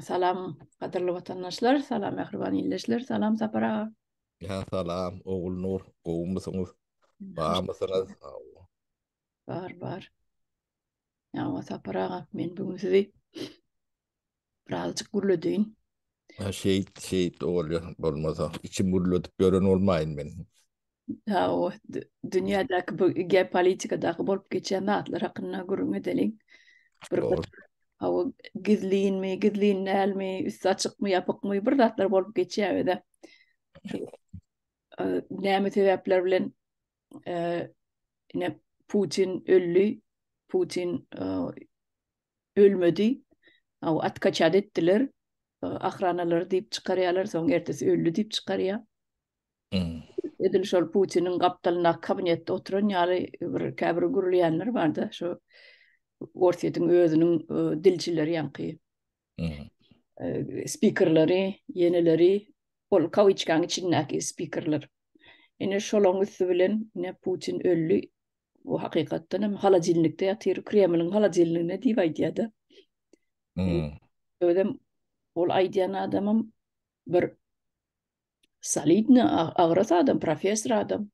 Salam, gadyrly watandaşlar, salam, mähriban ildeşler, salam, Sapar aga. Ya, salam, Ogul Nur, gowy musuňyz? Bar musuňyz? Bar, bar. Ya, Sapar aga, men bugün sizi Birazjyk gürledin. Ha şeýt şeýt bolýa bolmasa içim gürledip gören bolmaýyn men. Ha o dünýädäki bu geopolitikadaky bolup geçýän zatlar hakynda gürrüň edeliň. Bir ha o gizlinmi, gizlin dälmi, üsti açykmy, ýapykmy bir zatlar bolup geçýär öde. Näme sebäpler bilen ine Putin öldi. Putin ölmedi aw atkaçat etdiler ahranalary diýip çykarýalar soň ertesi öldi diýip çykarýa edil şol putiniň gapdalyndaky kabinetde oturan ýaly bir käbir gürleýänler barda şu orsýetiň özüniň e, dilçileri ýaňky e, spikerleri ýeneleri ol kawiçkaň içindäki spikerler ine şolaň üsti bilen ine putin öldi Bu hakykatdan hem halajilnikde ýatyr, Kremliň halajilniginde diýip aýdýar-da. Hmm. Özem ol aýdýan adamym bir solidny agras adam, professor adam.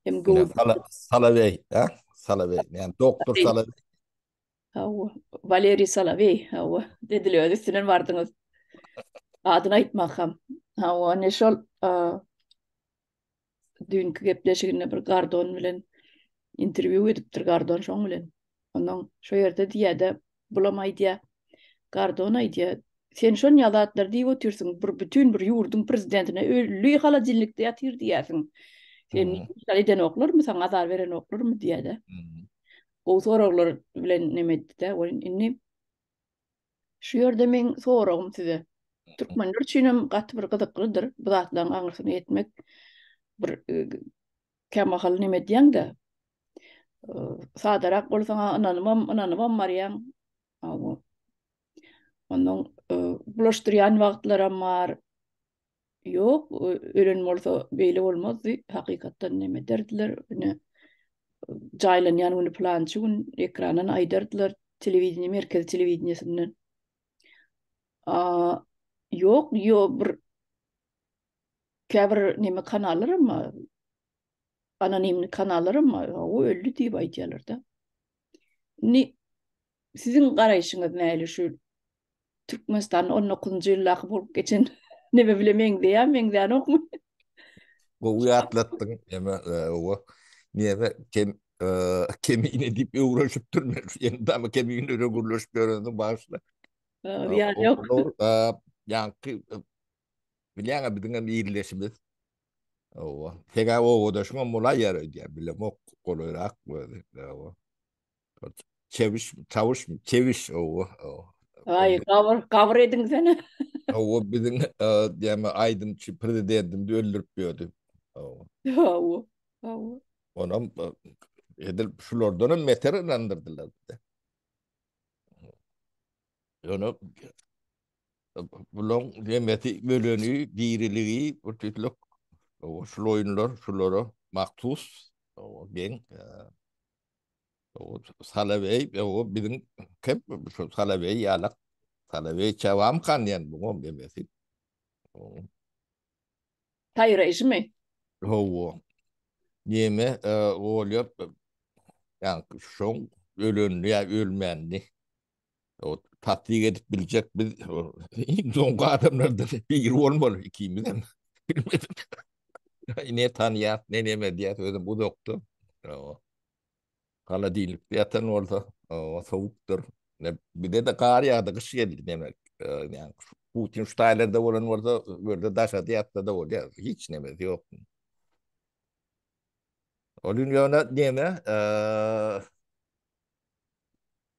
Hem gowy. Salaweý, ha? Salaweý, ýani doktor Salaweý. Hawa, Valeriý Salaweý, hawa, dediler, öz üstünden bardyňyz. Adyny aýtmak hem. Hawa, ne şol, düýnki gepleşiginde bir Gardon bilen interwýu edipdir Gardon şoň bilen. Ondan şo ýerde diýýärdi, bulam aýdýar. Gardon aýdýar, sen şon ýazatlar diýip otyrsyň, bir bütin bir ýurduň prezidentine ölli halajinlikde ýatyr diýýärsiň. Sen şeýle edenoklarmy, saňa azar berenoklarmy diýýärdi. Gowy soraglar bilen nemetdi-de, indi Şu ýerde meň soragym size. Türkmenler üçin hem gaty bir gyzyklydyr bu zatlaryň aňyrsyna ýetmek. Bir kämahal neme edýäň-de, sadarak bolsaň ynanybam, ynanybam barýaň. Onnoň bulaşdyrýan wagtlaram bar. Ýok, ölen bolsa beýle bolmazdy. Hakykatdan neme ederdiler? Ine, jaýlanýan güni pylançy gün ekrandan aýdardylar, telewideniýe, merkezi telewideniýesinden. A, ýok, ýo bir käbir neme kanallar, emma anonimni kanallaram bar, o öldi diýip aýdýarlar-da. Indi siziň garaýşyňyz näli şu Türkmenistanyň on dokuzynjy ýyldaky bolup geçen neme bile meňzeýär, meňzänokmy? Gowy ýatlatdyň, eme, owa, neme, kem, kemine diýip öwrenşipdir men, indi ama keminlere gürleşip ýörendim, bagyşla. Ýa, ýok. Ýaňky, bilýäňä, biziňem ýerleşimiz, Owa. Seňä obadaşyňam bolaý ýar öýdýär. Bilemok, golaýrak özi. Owa. Çewiş, çawuş, çewiş, owa. Aý, gabyr, gabyr ediňsene. Owa, biziň däme aýdymçy prezidentimizi öldürip ýördi. Owa. Owa, owa. Onam edil şulardanam beter ynandyrdylar bize. Ýöne Bularyň hemmesi öleni, diriligi, bir tüýtlük şul oýunlar şulara mahsus. Geň Salaweý, o biziň köp şu Salaweý ýalak. Salaweý çabam kan diýen bu gom demesi. Taýraýşymy? Hawa. Neme bolýar? Ýa şoň ölenini ýa ölmänini. Tasdik edip biljek biz iň soňky adamlardan biri bolmaly ikimiz hem. Ne tanýas, ne neme diýýäs, özüm uzakda. Holodilnikde ýatan bolsa, sowukdyr. Bizde-de gar ýagdy, gyş geldi demek. Putin şu taýlarda bolan bolsa, bu ýerde daşada ýatsa-da bolýar, hiç nemesi ýok. Ol gün ýöne neme,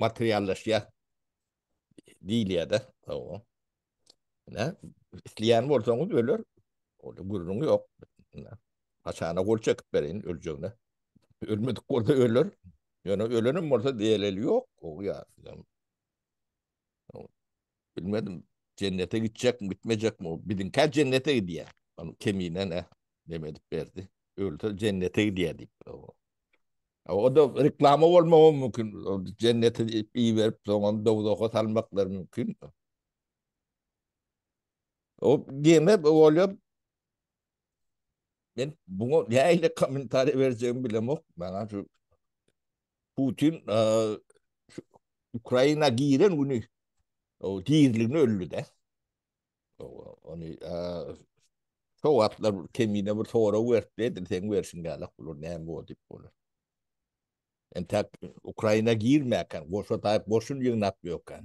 materiallaşýar diýilýär-de. Hawa. Ine, isleýän bolsaňyz öler. Onda gürrüň ýok. Haçana gol çekip bereýin öljegine. Ölmedik bolsa öler. Ýöne ölenem bolsa delil ýok. Hawa. Bilmedim, jennete gitjekmi, gitmejekmi, o biziňkä jennete gidýär. Ol kemine ne, neme edip berdi. Ölse jennete gidýär diýip. o. A, O da reklama bolmagy mümkin. O Jennete diýip iberip, soňam dowzaha salmaklary mümkin. O gene bolýar. Men buna nähili kommentariýa berjegimi bilemok. Maňa şu Putin Ukraina giren güni o diriligini öldi de. Onu şo wagtlar kemine bir sorag berip dedim sen bersin galak bular näme o dip bolar. Yani tak Ukraina girmeýän, goşa taýyp goşun ýygnap ýokan.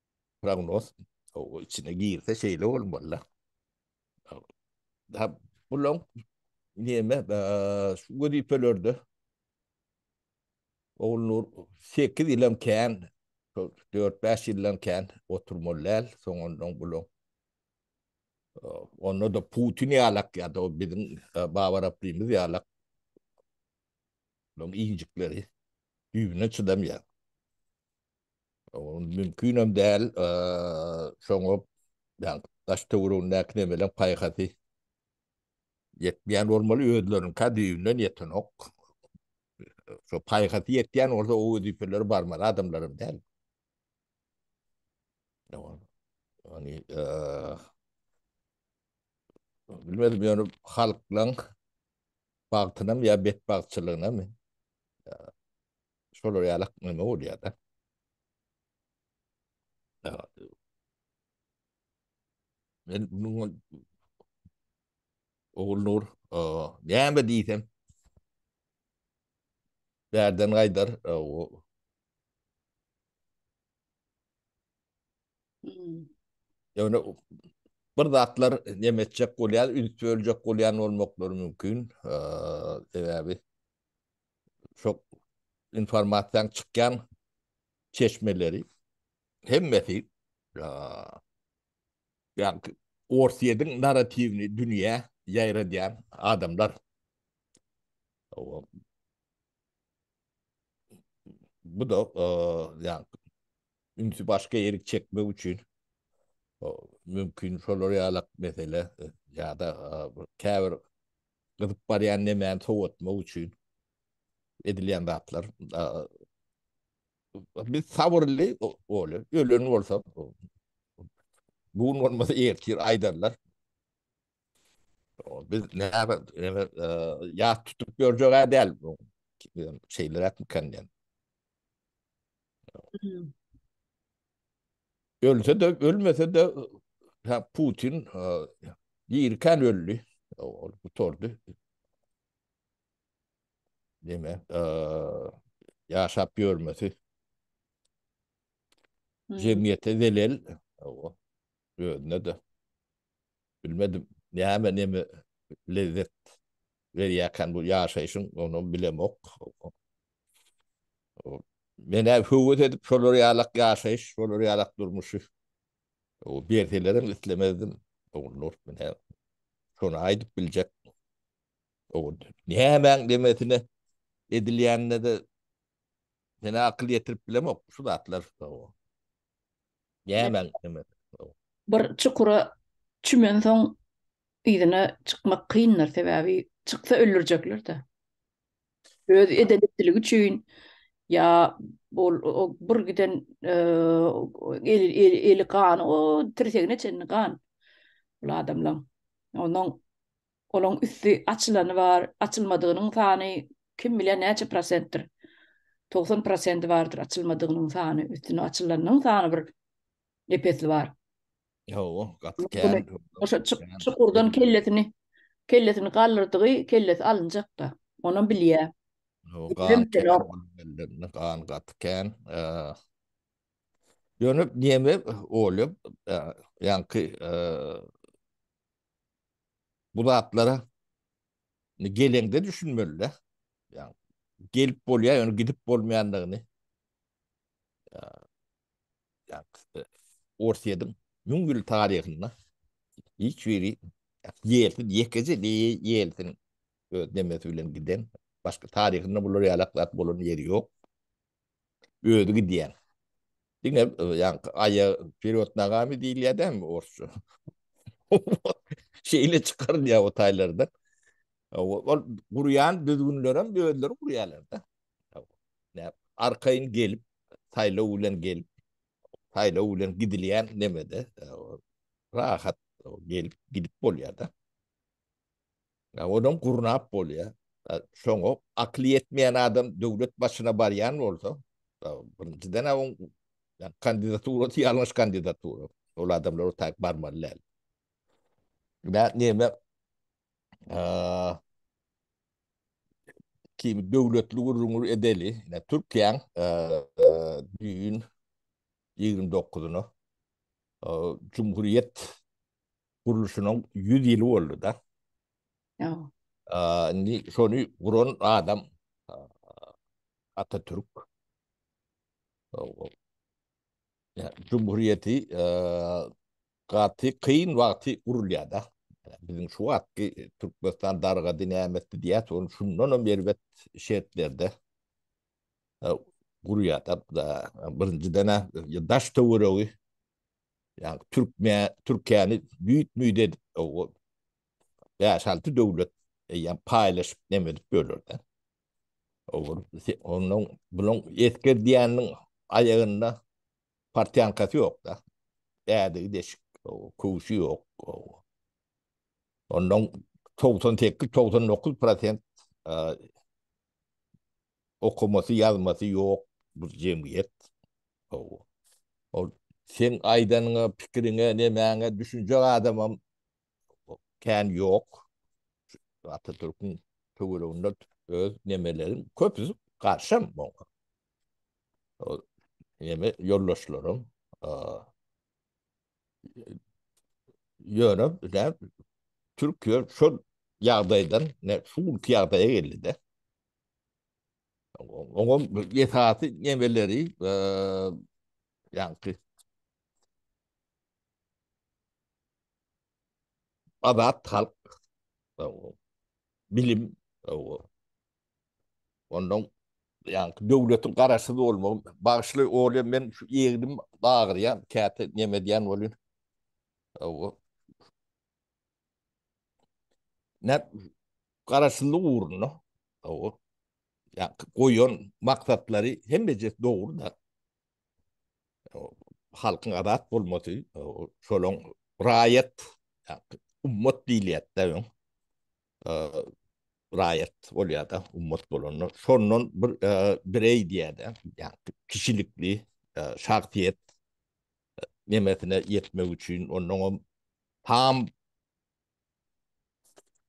Prognoz o içine girse şeýle bolmaly. Ha, bulaň näme, şu wezipelerde Oglunur 8 ýylam kän, 4-5 ýyldan kän oturmaly däl, soňundan bulaň onda da Putin ýalak ýa-da o biziň Babarapdymyz ýalak bulaň injikleri düýbüne çydamýar. Ol mümkinem däl, şoňa ýa daş-töweregindäki nebelem paýhasy ýetmeýän bolmaly, özleriniňkä düýbünden ýetenok. Şo paýhasy ýetýän bolsa o wezipeleri barmaly adamlaram däl. Ýagny, bilmedim ýöne halklaň bagtynam ýa betbagtçylygynam Şolar ýaly neme bolýar-da. Men munuň Ogullur, näme diýsem, bärden gaýdar, o Ýöne bir zatlar neme etjek bolýar, üns böljek bolýan bolmaklary mümkin. Sebäbi şo informasiýanyň çykýan çeşmeleri hemmesi ýa-da Orsýetiň narratiwini dünýä ýaýradýan adamlar. Bu da ýa ünsi başga ýerik çekmek üçin mümkin şolar ýalak mesele ýa-da käbir gyzyp barýan nemäni sowatmak üçin edilýän zatlar. Biz sabyrly bolýar. Ölen bolsa bu gün bolmasa ertir aýdarlar. Biz näme ýat tutup ýörjek däl bu şeyler etmekden. Ölse de, ölmese de ha Putin ýerken öldi. Ol gutardy. Deme, ýaşap ýörmesi. Jemgyýete zelel. Owa. Özüne de. Bilmedim. Näme näme lezzet berýärken bu ýaşaýşyň, onu bilemok. Men-ä höwes edip şolar ýalak ýaşaýyş, şolar ýalak durmuşy berselerem islemezdim. Ogulnur, men-ä şony aýdyp biljek. Nämäň demesine edilýänine-de men-ä akyl ýetirip bilemok, şu zatlar. Nämäň demesine. Bir çukura çümensoň, yzyna çykmak kyndyr, sebäbi çyksa öldürjekler-dä. Öz edenetligi üçin ýa ol o bir giden eli eli eli gan o tirsegine çenli gan ol adamlaň. Onuň olaň üsti açylany bar, açylmadygynyň sany kim bilýär näçe prosentdir. Togsan prosenti bardyr açylmadygynyň sany, üstüni açylanyň sany bir depesi bar. Hawa, gaty kän. Oşa çukurdan kellesini kellesini galdyrdygy kellesi alynjakda. Onam bilýär. Gan gaty kän. Dönüp neme olyp ýanky bu zatlara gelende düşünmeli. Ýa gelip bolýar, ýöne gidip bolmaýandygyny. Orsýetiň müň ýyllyk taryhynda hiç bir ýersiz, ýekeje ýelsiň öz demesi bilen giden, başga taryhynda bular ýalak zat bolan ýeri ýok. Özi gidýär. Diňe ýaňky Aýa wperýod nogami diýilýär dälmi orsça? Şeýle çykarylýar o taýlardan. Ol gurýan düzgünlerem özleri gurýarlar-da. Näp? Arkaýyn gelip, saýlaw bilen gelip, saýlaw bilen gidilýän nemede, rahat gelip, gidip bolýar-da. Ýa onam gurnap bolýar. Şoňa akyly ýetmeýän adam döwlet başyna barýan bolsa, birinjiden oň kandidaturasy ýalňyş kandidatura. Ol adamlar o taýyp barmaly däl. Näme? Kimi döwletli gürrüňi edeli. Ine, Türkiýäň düýn ýigrimi dokuzyna Cumhuriyet gurluşynyň ýüz ýyly boldy-da. Indi şony guran adam Atatürk. Cumhuriyeti Gaty kyn wagty urulýada. Biziň şu wagtky Türkmenistan dargady nämesdi diýýäs ony şundanam erbet şertlerde gurýada. Birinjidena daş töweregi ýa türkme türkiýäni düýt müýt edip bäş alty döwlet eýýäm paýlaşyp neme edip ýörlerde. Onuň bilen esger diýäniniň aýagynda Partýankasy ýok-da. Ädigi deşik, köwşi ýok. Ondan togsan sekiz, togsan dokuz prosent okamasy, ýazmasy ýok bir jemgyýet. Ol seň aýdanyňa, pikiriňe, nemäňe düşünjek adamam kän ýok. Atatürküň töwereginde öz nemeleri köpüsi garşam oňa. Ýene ýoldaşlarym ýöne näm Türkiýe şol ýagdaýdan ne şu günki ýagdaýa geldi-de. Oňam esasy nemeleri ýaňky Azat halk bilim Ondan ýaňky döwletiň garaşsyz bolmagy bagyşly bolýar. Men şu egnim agyrýar, käte neme edýän bolýan. Hawa. Näp garaşsyzlyk ugrunda. Hawa. Ýa goýan maksatlary hemmejesi dogry-da. Halkyň azat bolmasy, şolaň raýat, ummat diýilýär-de. raýat bolýar-da, ummat bolanda. Şondan bir bireý diýýär-de, ýa-da kişilikli şahsyýet nemesine ýetmek üçin onnoňam tam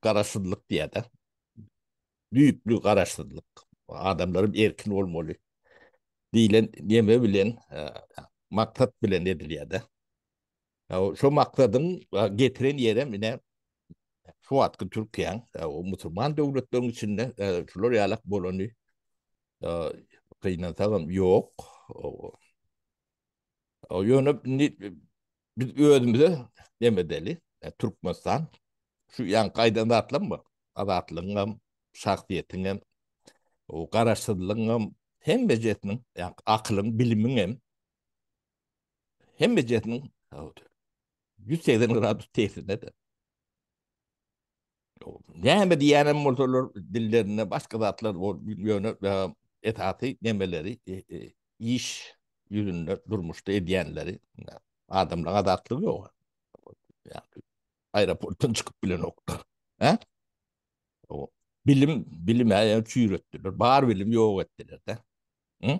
garaşsyzlyk diýýär-de. Düýpli garaşsyzlyk. Adamlar erkin bolmaly diýlen neme bilen, maksat bilen edilýär-de. Şo maksadyň getiren ýerem ine şu wagtky Türkiýäň musulman döwletleriň içinde şular ýalak bolany gynansagam ýok. Ýöne indi biz özümize dem edeli. Türkmenistan şu ýaňky aýdan zatlaryň bar. Azatlygyň hem, şahsyýetiň hem, garaşsyzlygyň hem hemmejesiniň, ýa akylyň, bilimiň hem Hemme jetiniň howdy. 180 gradus tesirinde de. Näme diýenem bolsalar dillerinde başga zatlar bol ýöne esasy nemeleri e, e, iş ýüzünde durmuşda edýänleri adamlar adatlyk ýok. Yani, aeroportdan çykyp bilen oklar. He? O, bilim, bilim ýa çüýretdiler. Bar bilim ýok etdiler de. Hı?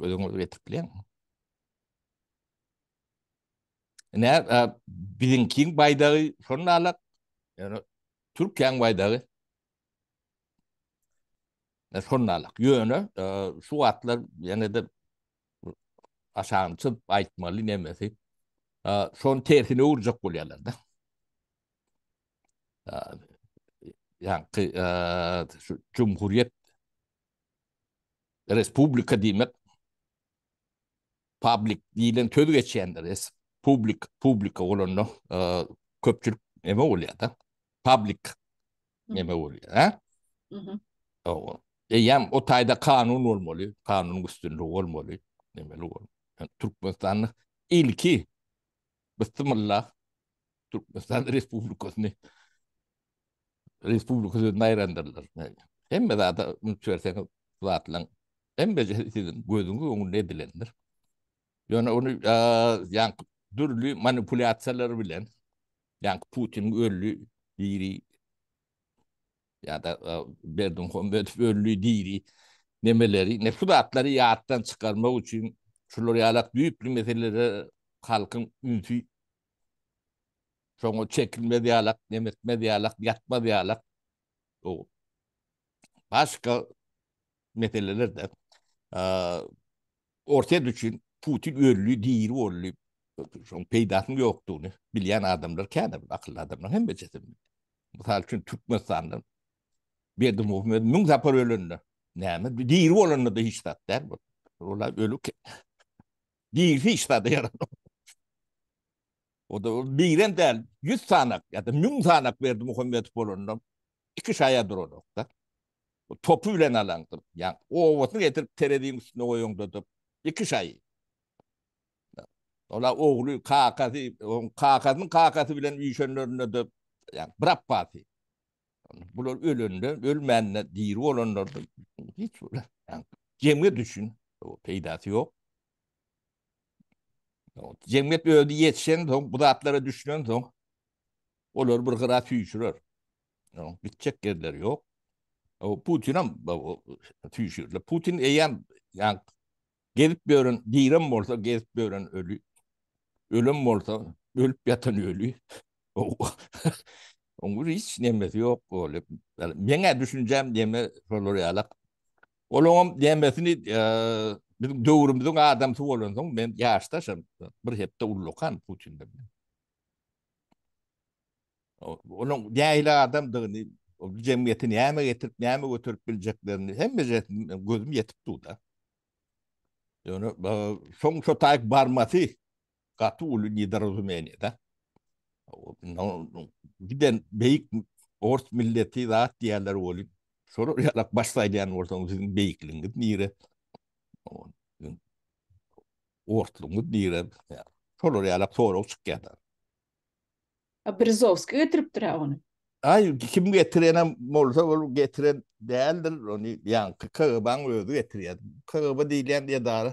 Gözüňizi getirip bileň. Ne biziňkiň baýdagy şonda alak. Yani Türkiýäň baýdagy. Ne şonda alak. Ýöne şu wagtlar ýene de aşagyny çyp aýtmaly nemesi. Şon tersine urjak bolýarlar da. Yani şu Cumhuriyet Respublika diýmek public diýlen söz geçýändir. Res, public, publika bolanda e, köpçülik neme bolýar-da. Public neme bolýar, ha? Owa. Eýýäm o taýda kanun bolmaly, kanun üstünligi bolmaly, nemeli bolmaly. Yani, Türkmenistanda ilki Bismillah Türkmenistan Respublikasyny Respublika sözüni aýrandyrlar. Hemme zada üns berseňiz, zatlaň hemme siziň gözüňiz öňünde edilendir. Ýöne ony ýaňky dürli manipulýasiýalar bilen, ýaňky Putin öldi, diri ýa-da Berdimuhamedow ölli diri nemeleri, ne şu zatlary ýatdan çykarmak üçin şular ýalak düýpli meselelere halkyň ünsi şoňa çekilmez ýalak, nemetmez ýalak, ýatmaz ýalak. Başga meselelerde Orsýet üçin Putin ölli, diri bolly, şoň peýdasynyň ýokdugyny bilýän adamlar kän, akylly adamlar hem bejedim. Mysal üçin Türkmenistandan Berdi Muhammedow müň sapar ölende, näme diri bolanda-da hiç zat däl bu. Ola ölük. Diri hiç zat ýaramaz. O da diren däl, 100 sanak ýa-da 1000 sanak Berdi Muhammedow bolanda iki şaýa duranokda. topy bilen alaňdyr. Ýa owasyny getirip tereziň üstüne goýaňdyr. Iki şaýy. Ola ogly, kakasy, oň kakasynyň kakasy bilen üýşenlerinde de ýa bir apbasy. Bular ölende, ölmände diri bolanlarda hiç bile. Jemgyýet üçin peýdasy ýok. Jemgyýet özi ýetişen soň, bu zatlara düşünen soň, olary bir gyra süýşürer. Gitjek yerler yok. O Putin hem tüyşürle. Putin eyyem yani gezip gören, direm olsa gezip gören ölü. Ölüm olsa ölüp yatan ölü. Onun hiç nemesi yok. Öyle. Yani, mene düşüneceğim deme solar yalak. Onun demesini e, bizim dövrümüzün adamsı olan son ben yaştaşım. Bir hepte ullukan Putin'de. Onuň nähili adamdygyny, bu jemgyýete näme getirip, näme göterip biljeklerini hemmesine gözüm ýetip dur-da. Ýöne şoň şo taýyp barmasy gaty uly nedorazumeniýe-de. Giden beýik ors milleti zat diýýärler welin, şolar ýalak baş saýlaýan bolsaňyz, siziň beýikligiňiz nire? Orslugyňyz nire? Şolar ýalak sorag çykýar-da. A Brzowski getiripdir-ä ony. Aý, kim getirenem bolsa, ol getiren däldir, ony ýaňky KGB-nyň özi getirýär. KGB diýilýän edara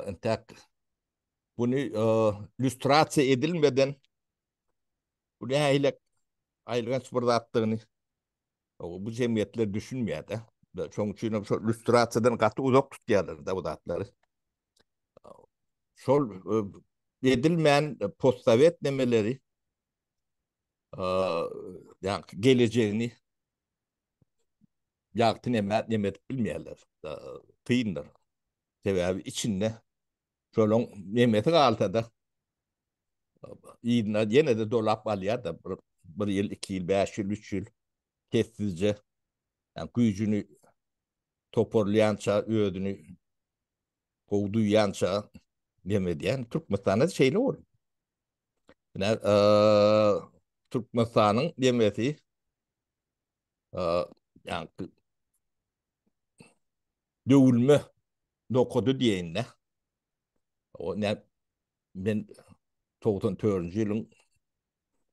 entäk buny lýustrasiýa edilmeden bu nähilek aýylganç bir zatdygyny bu jemgyýetler düşünmeýär-de. Şonuň üçinem şol lýustrasiýadan gaty uzak tutýarlar-da bu zatlary. şol edilmän postsowet nemeleri ýa gelejegini ýagty neme neme edip bilmeýärler. Kyndyr. Sebäbi içinde şolaň nemesi galsa-da ýyna ýene-de dolap alýar-da bir, bir ýyl, iki ýyl, bäş ýyl, üç ýyl sessizje ýa güýjüni toparlaýança özüni gowy duýýança dem edýän. Türkmenistanda şeýle bol. Ine, Türkmenistanyň demesi ýa-da döwülme nokady diýende o ne men 94-nji ýylyň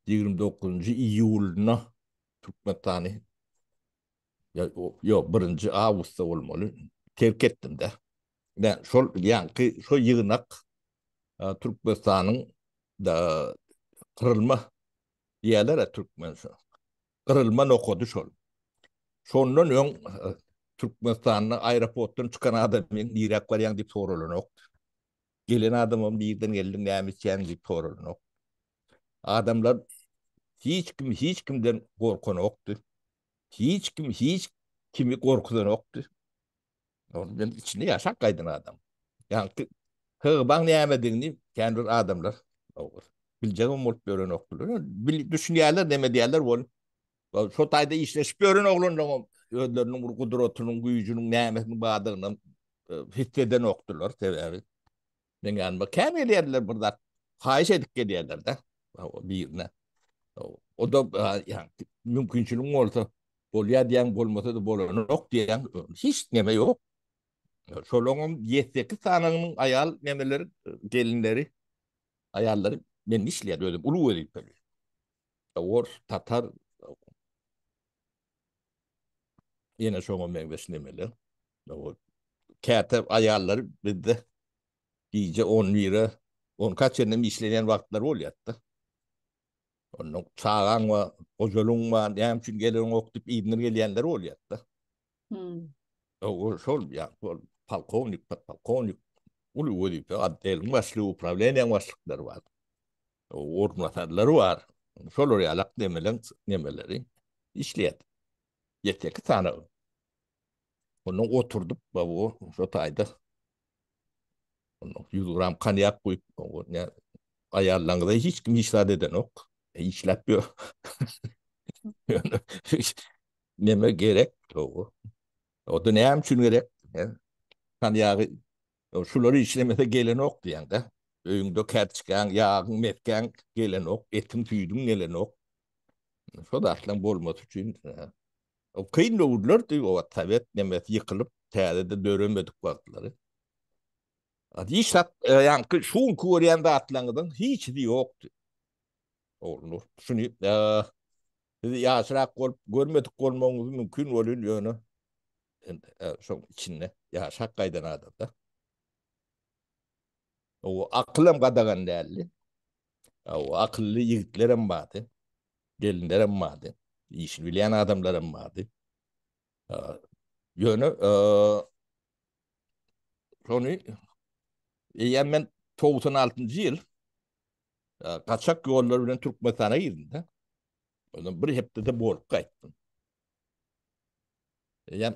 29-njy iýulyna Türkmenistany Ýok, birinji awgustda bolmaly. Terk etdim-de. Ine, şol ýaňky şo ýygnak Türkmenistanyň kyrylma diýerler-ä türkmen şo. Gyrylma nokady şol. Şondan öň Türkmenistanda aeroportdan çykan adamyň niräk barýaň diýip soralanok. Gelen adamam nirden geldiň, näme etýäň diýip soralanok. Adamlar hiç kim hiç kimden gorkanokdy. Hiç kim hiç kimi gorkuzanokdy. Ol men içinde ýaşap gaýdan adam. Ýaňky hybaň nämedigini kän bir adamlar ogur. Biljegim bolup ýörenokdylar. Bil düşünýärler näme diýýärler ol. Şo taýda işleşip ýören oglanlaryň özleriniň bir gudratynyň, güýjüniň nämesini badygyny e, hiss edenokdylar sebäbi. Men yani bu käm gelýärler bir zat haýyş edip gelýärler-de. O birine. O da yani mümkinçilik bolsa bolýar diýen bolmasa da bolanok diýen hiç neme ýok. Şolaryň 7-8 sanynyň aýal nemeleri gelinleri aýallary men işleýär özüm uly wezipeli. Ors, tatar Ýene şoňa meňzeş nemeler. O käte aýallar bizde gije 11-e, 10 kaç ýerden işleýän wagtlar bolýar-da. Onda çagaň we gojalyň we näme üçin gelen ok diýip iýnir gelýänler bolýar-da. Hmm. O şol ýa şol polkownik, podpolkownik uly wezipe, adeliň başlygy, uprawilenýäň başlyklary bar. orunbasarlary bar. Şolar ýalak nemeleň nemeleri işleýär. Ýeke-iki sany Ondan oturdyp, bu şu taýda ýüz gram konýak guýup, aýallaryňyza hiç kim hiç zat edenok. Işläp ýör. Neme gerek? O-da näme üçin gerek? Konýagy Ýok, şular işlemese gelenok diýeňdä. Öýüňde kärçkäň, ýagyň, mesgäň gelenok, etiň-süýdüň gelenok. Şo zatlaryň bolmasy üçin kyn döwürlerdi o wagt sowet nemes ýykylyp täzede döremedik wagtlary. Hiç zat ýaňky şu günki görýän zatlaryňyzyň hiçisi ýokdy. Oglunur, şuny siz ýaşrak bolup görmedik bolmagyňyz mümkin welin ýöne Sen şoň içinde ýaşap gaýdan adamda. O akylam gadagan däldi. O akylly ýigitler hem bardy. Gelinler hem bardy. Işini bilýän adamlar hem bardy. Ýöne şony eýýäm men 96-njy ýyl gaçak ýollar bilen Türkmenistana girdim-de. Ondan bir hepdede bolup gaýtdym. Eýýäm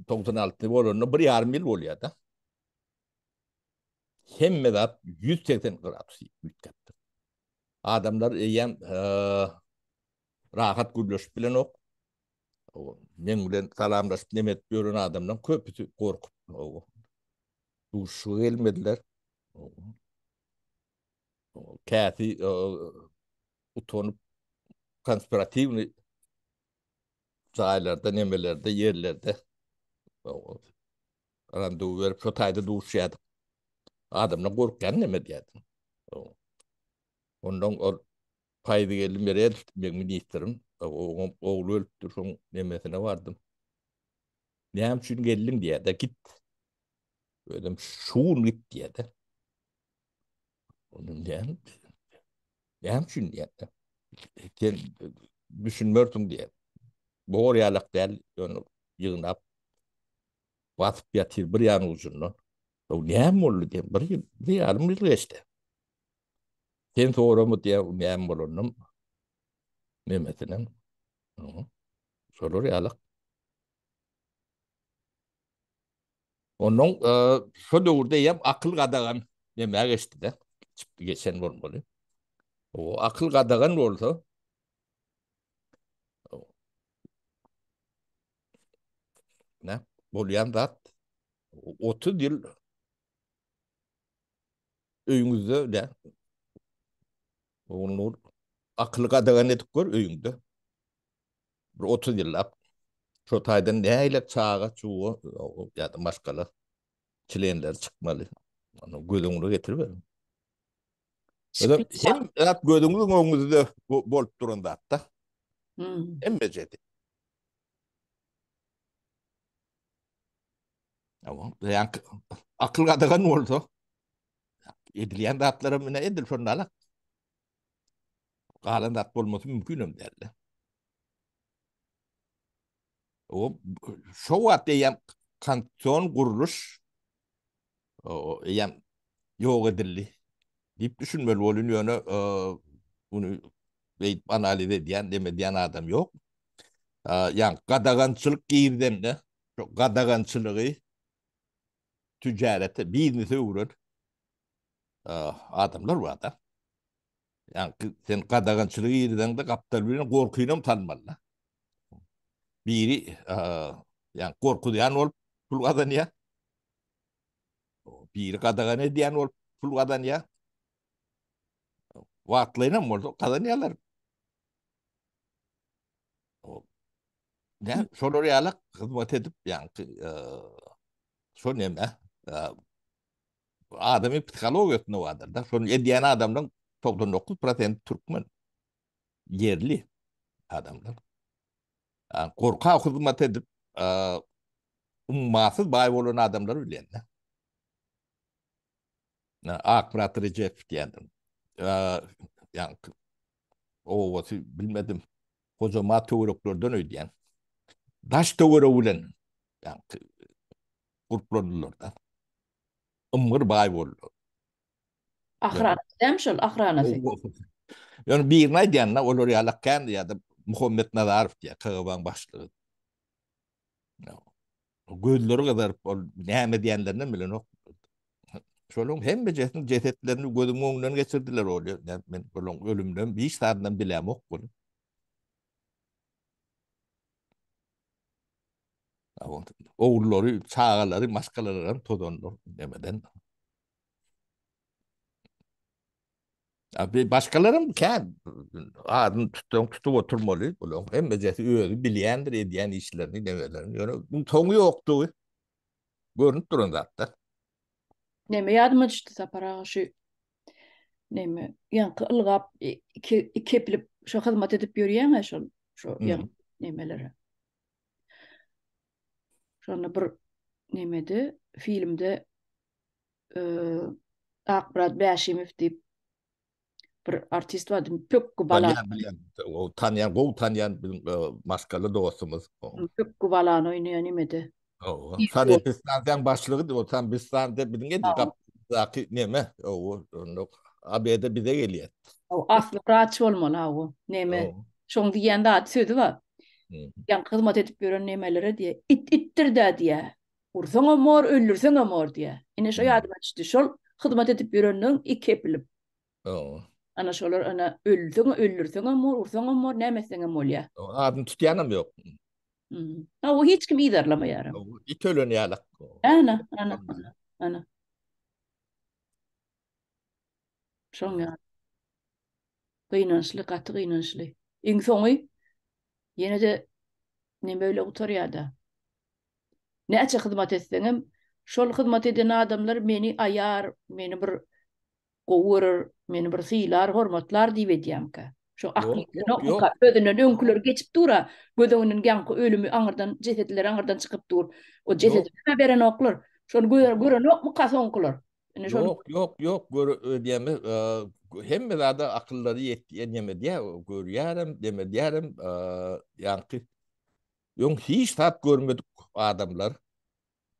togsan alty bolanda bir ýarym ýyl bolýar-da. Hemme zat ýüz segsen gradus üýtgäpdir. Adamlar eýýäm rahat gürleşip bilenok. Men bilen salamlaşyp neme edip ýören adamlaryň köpüsi gorkup duşuşyga gelmediler. Käsi utanyp konspiratiwnyý jaýlarda, nemelerde, ýerlerde randewu berip, şo taýda duşýardyk. Adamlar gorkýan neme diýýärdim. Ondan ol Paýzy geldi Merel, men ministrim, oňam ogly ölüpdir, şoň nemesine bardym. Näme üçin geldiň diýýär-de, git. Özüm şu gün git diýýär-de. Onun däl. Näme üçin diýýär? Sen düşünmersiň diýýär. Bor ýalak däl, ýöne ýygnap basyp ýatyr bir ýan ucundan. O näme boldy diýip bir ýyl, bir ýarym ýyl geçdi. Sen soramy diýýär, näme bolanyn memesiniň. Şolar ýalak. Onuň şo döwürde ýem akyl gadagan näme geçdi-de, çykdy geçen bolmaly. O akyl gadagan bolsa, ne, bolýan zat, 30 ýyl öýüňizde, ne, oglunur, akyl gadagan edip gör öýüňde. Bir otuz ýyllap şo taýdan nägile çaga çuwa ýa-da maşgala çlenleri çykmaly. Ony göz öňüne getiriberiň. Özem hem zat gözüňiziň öňüňizde bolup duran zatda. Hemme jedi. Tamam. Yani akıl gadagan bolsa edilýän zatlara mine edil şonda ala. Galan zat bolmasy mümkin hem däldi. O şo wagt eýýäm konstitusion gurluş eýýäm ýok edildi diýip düşünmeli bolun ýöne muny beýdip analiz edýän, demedýän adam ýok. Ýa gadagançylyk girdende, şo gadagançylygy tijarete, biznese öwren. adamlar bar-da. Ýa-da sen gadagançylygy ýerideňde gapdal bilen gorkyny hem tanmalda. Biri ýa gorkuzýan bolup pul gazanýar. Biri gadagan edýän bolup pul gazanýar. Wagtlaýyn hem bolsa gazanýarlar. Näme şolar ýaly hyzmat edip, ýa-da şol näme? Bu adamyň psihologiýasynda bardyr da. Şonu edýän adamlaryň togsan dokuz prosenti türkmen. Ýerli adamlar. Ýa gorka hyzmat edip, ummasyz baý bolan adamlary bilýän da. Ýa Akmyrat Rejepow diýendir. Ýa obasy bilmedim. Hojamat töwereklerden öýdýän. Daş töweregi bilen gurplandylar-da. Ymgyr baý boldular. Ahyran däm şol, ahyranaty. Ýöne birini aýdýan-da, olar ýalak kän ýa-da Muhammet Nazarow diýýär, KGB-nyň başlygy. Gözleri gyzaryp, ol näme diýenlerinem bilenok. Şolaryň hemmejesiniň jesetlerini gözümiň öňünden geçirdiler olýa. Men olaryň ölüminem hiç zadynam bilemok. Ogullary, çagalary, maşgalalary hem tozandyr nemeden. Abi başgalarym kän adyny tutsaň tutup oturmaly. Bularyň hemmejesi özi bilýändir edýän işlerini, nebelerini. Ýöne bu soňy ýokdugy görnüp duran zatda. Neme ýadyma düşdi Sapar aga şu neme ýaňky ylgap iki iki eplip şu hyzmat edip ýörýäň-ä şol şu ýaňky nemelere. Şonda bir nemede, filmde Akmyrat Bäşimow diýip bir artist bardy, pökgi bala. Bilýän, bilýän. O tanýan, gowy tanýan biziň maskaly dostumyz. Pökgi balany oýnaýan nemede. Hawa. Sanitariýa stansiýanyň başlygy diýip oturan biz stansiýa biziň edil gapymyzdaky neme. Hawa, onda ABD bize gelýär. Hawa, asly wraç bolmaly hawa. Neme, şoň diýýän zady sözi bar. Ýaňky hyzmat edip ýören nemelere diýýär, it itdir-dä diýýär. Ursaňam bor, öldürseňem bor diýýär. Ine şo ýadyma düşdi. Şol hyzmat edip ýörenleriň iki epilip. Öň. Ana şolar ana ölseň öldürseňem bor, ursaňam bor, näme etseňem bolýar. Adyny tutýanam ýok. Hawa, hiç kim yzarlamaýar. It ölen ýaly. Ana, ana, ana. Şoň ýaly. Gynançly, gaty gynançly. Iň soňy ýene-de neme bile gutarýar-da. Näçe hyzmat etseňem, şol hyzmat eden adamlar meni aýar, meni bir Gowy görer, meni bir sylar, hormatlar diýip edýämkä. Şo akly Ýok, ýok, ýok. ýokanka, özünden Ýok. öňküler geçip dur-a, göz öňünden ýaňky ölümi aňyrdan, jesedleri aňyrdan çykyp dur. O Ýok. jesedi-hä berenoklar. Şony gö- Ýok. görenokmyka soňkular? Indi şony Ýok, ýok, ýok, göre, öýdýämi, a, gö- hemme zada akyllary ýetýän demedýä, görýärem, demedýärem, a, ýaňky öň hiç zat görmedik adamlar,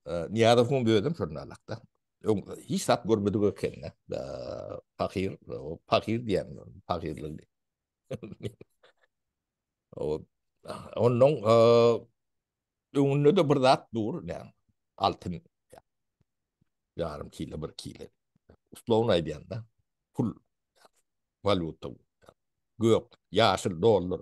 Niýazowyň özem şol nalakda. Öň hiç zat görmedik ekende. Pahyr, pahyr diýen, pahyrlyk. O, ondan öňünde de bir zat dur, ne, altyn, yarım kilo, bir kilo. Uslovun aýdýanda, pul, valyuta, gök, ýaşyl dollar.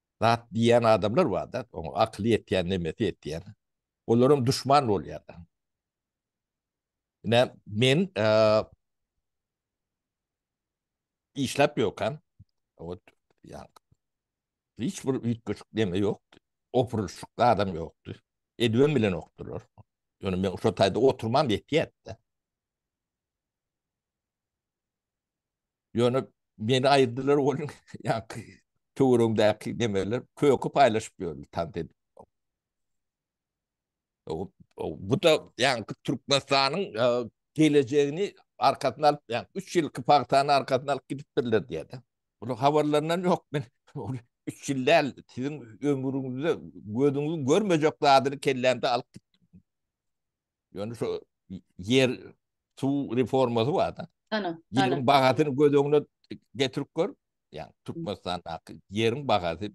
zat diýýän adamlar bar-da, oňa akyly ýetýän, nemesi ýetýän. Olaram duşman bolýar. Ine, men işläp ýokam. Ot, ýa, hiç bir üýtgeşik neme ýokdy. Opurylyşykly adam ýokdy. Edibem bilenokdyrlar. Ýöne men şo taýda oturmam ýetýärdi-de. Ýöne meni aýyrdylar onuň ýaňky töweregindäki nemeler köki paýlaşyp ýördi tant edip. Bu da ýaňky Türkmenistanyň e, gelejegini arkasyna alyp, ýa 3 ýylky pagtany arkasyna alyp gidipdirler diýýär. Bunu habarlaryndan ýok men. 3 ýyl däl, siziň ömrüňizde gözüňiz görmejek zadyny kellämde alyp Ýöne şu ýer suw reformasy bar-da. Ana, ýeriň bahasyny göz öňüne getirip gör. Ýa Türkmenistandaky ýeriň bahasy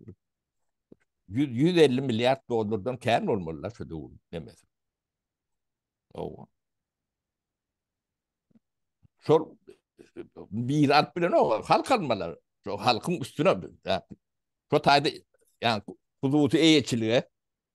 100-150 milliard dollardan kän bolmaly-la şu döwür demesem. Owa. Şol mirat bilen o halk almalar. Şo halkyň üstüne şu taýda ýa hususy eýeçilige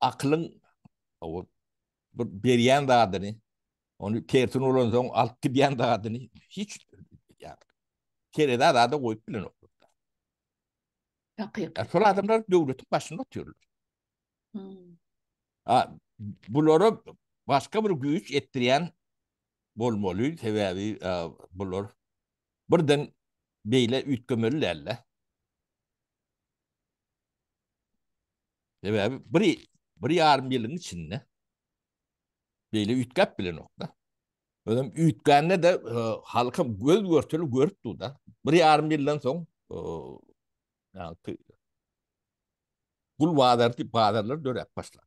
Akylyň bir berýän zadyny, ony tersine ulansoň alyp gidýän zadyny hiç terezä zada goýup bilenok. Hakykat. Şol adamlar döwletiň başynda otyrlar. Hmm. A, bulara başga bir güýç etdirýän bolmaly, sebäbi bular birden beýle üýtgemeli däl-de. Sebäbi bir bir ýarym ýylyň içinde beýle üýtgäp bilenokda. Özüm üýtgände de e, halka göz görteli görüp durda. Bir ýarym ýyldan soň e, gul bazar diýip bazarlar döräp başlar.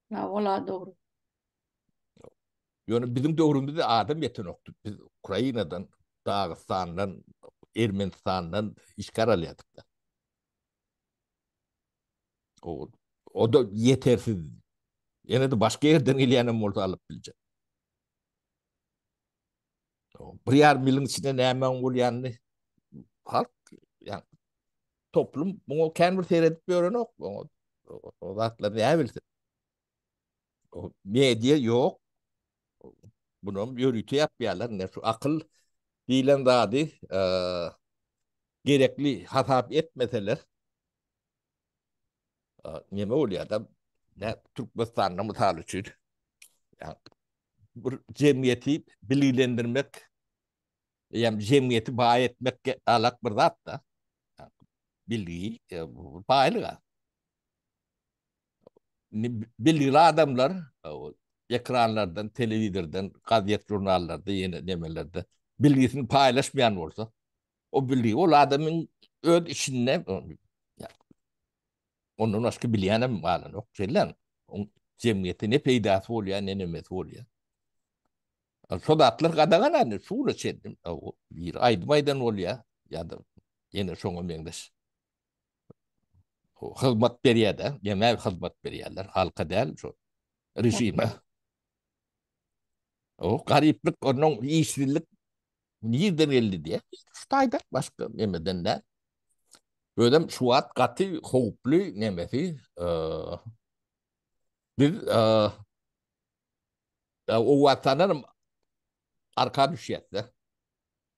Ya ola dogry. Ýöne biziň döwrümizde adam ýetenokdy. Biz Ukrainadan, Dagystandan, Ermenistandan işgär alýardyk. Ol, o-da ýetersiz. Ýene-de başga ýerden gelýänem bolsa alyp biljek. Bir ýarym ýylyň içinde nämäň bolýanyny halk, ýa toplum muňa kän bir seredip ýörenok. O zatlar näbilsin. O media yok. Bunam yörüte yapýarlar. Ne şu akıl diýlen zady e, gerekli hasap etmeseler e, neme bolýar da ne Türkmenistanda mysal üçin yani, bir jemgyýeti bilgilendirmek yani jemgyýeti baý etmek alak bir zat da yani, bilgi e, baýlyga Indi belli adamlar ekranlardan, telewizordan, gazet žurnallarda ýene nemelerde bilgisini paýlaşmaýan bolsa, o bilgi ol adamyň öz içinde ondan başga bilýänem galanok. Şeýle jemgyýete ne peýdasy bolýar, ne nemesi bolýar. Şol zatlar gadagan indi şu güne çenli. Bir aýdym aýdan bolýar ýa-da ýene şoňa meňzeş. hyzmat berýär-de, ýene hyzmat berýärler, halka däl, şu režime. O garyplyk, onuň işsizlik nirden geldi diýe, şu taýda başga nemeden däl. Özem şu wagt gaty howply nemesi, biz o wagtdan arka düşýäs-de.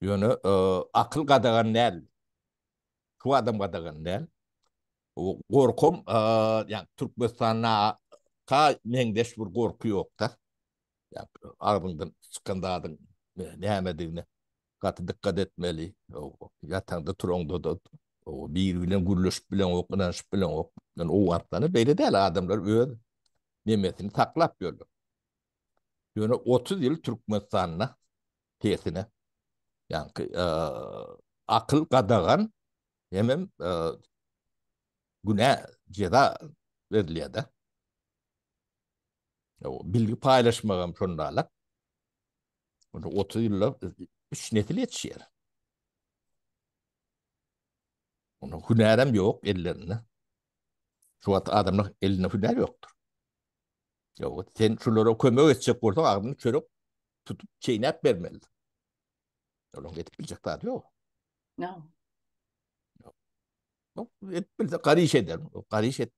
Ýöne akyl gadagan däl. Şu adam gadagan däl. Gorkam, ýagny Türkmenistanda ka meňzeş bir gorky ýokda. Ýagny agzyňdan çykan zadyň nämedigine gaty dykgat etmeli. Ýataňda turaňda-da biri bilen gürleşip bileňok, ynanyşyp bileňok. Ýöne Owganystanda beýle däl, adamlar öz nemesini saklap ýörler. Ýöne otuz ýyl Türkmenistanda Tersine. Ýaňky akyl gadagan hemem günä jeza berilýär-de. Bilgi paýlaşmak hem şonda-la. Onda 30 ýylda 3 nesil ýetişýär. Onda hünärem ýok ellerinde. Şu wagt adamlar elinde hünär ýokdur. Ýok, sen şulara kömek etjek bolsaň, agzyny çörek tutup çeýnäp bermeli. Olaň edip biljek zady ýok. No. No, edip bilse garyş eder. Garyş et.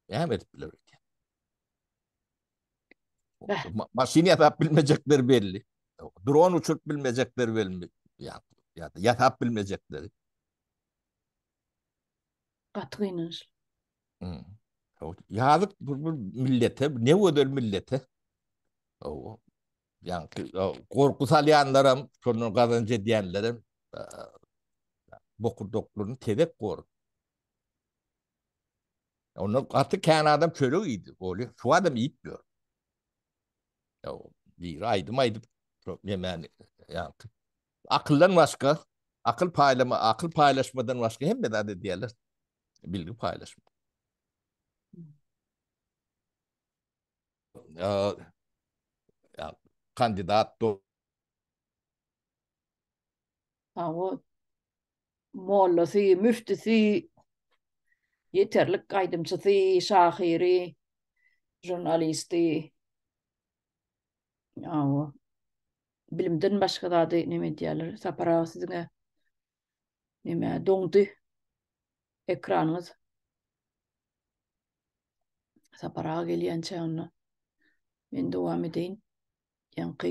Näme edip biler öýdýär. Ma maşyn ýasap bilmejekler belli. Dron uçuryp bilmejekler belli. Ýa-da ýasap bilmejekler. Gaty gynançly. Hmm. Ýazyk bir, bir millete, ne gözel millete. O, yani korku salýanlaram, şondan gazanç edýänlerem e, bokurdaklaryny tezek gor. Onda gaty kän adam çörek iýdi. Oli, şu adam iýipdir. Ya, bir aýdym aýdyp, şu yemeğini, yani, Akyldan başga, akyl paýlama, akyl paýlaşmadan başga hemme zat edýärler. Bilgi paýlaşma. Ýa, kandidat do. Hawa. Mollasy, müftisi, ýeterlik aýdymçysy, şahyry, žurnalisti. Awa. Bilimden başga zady neme edýärler? Sapar aga siziňe neme doňdy ekranyňyz. Sapar aga gelýänçä onda men dowam edeýin. Ýaňky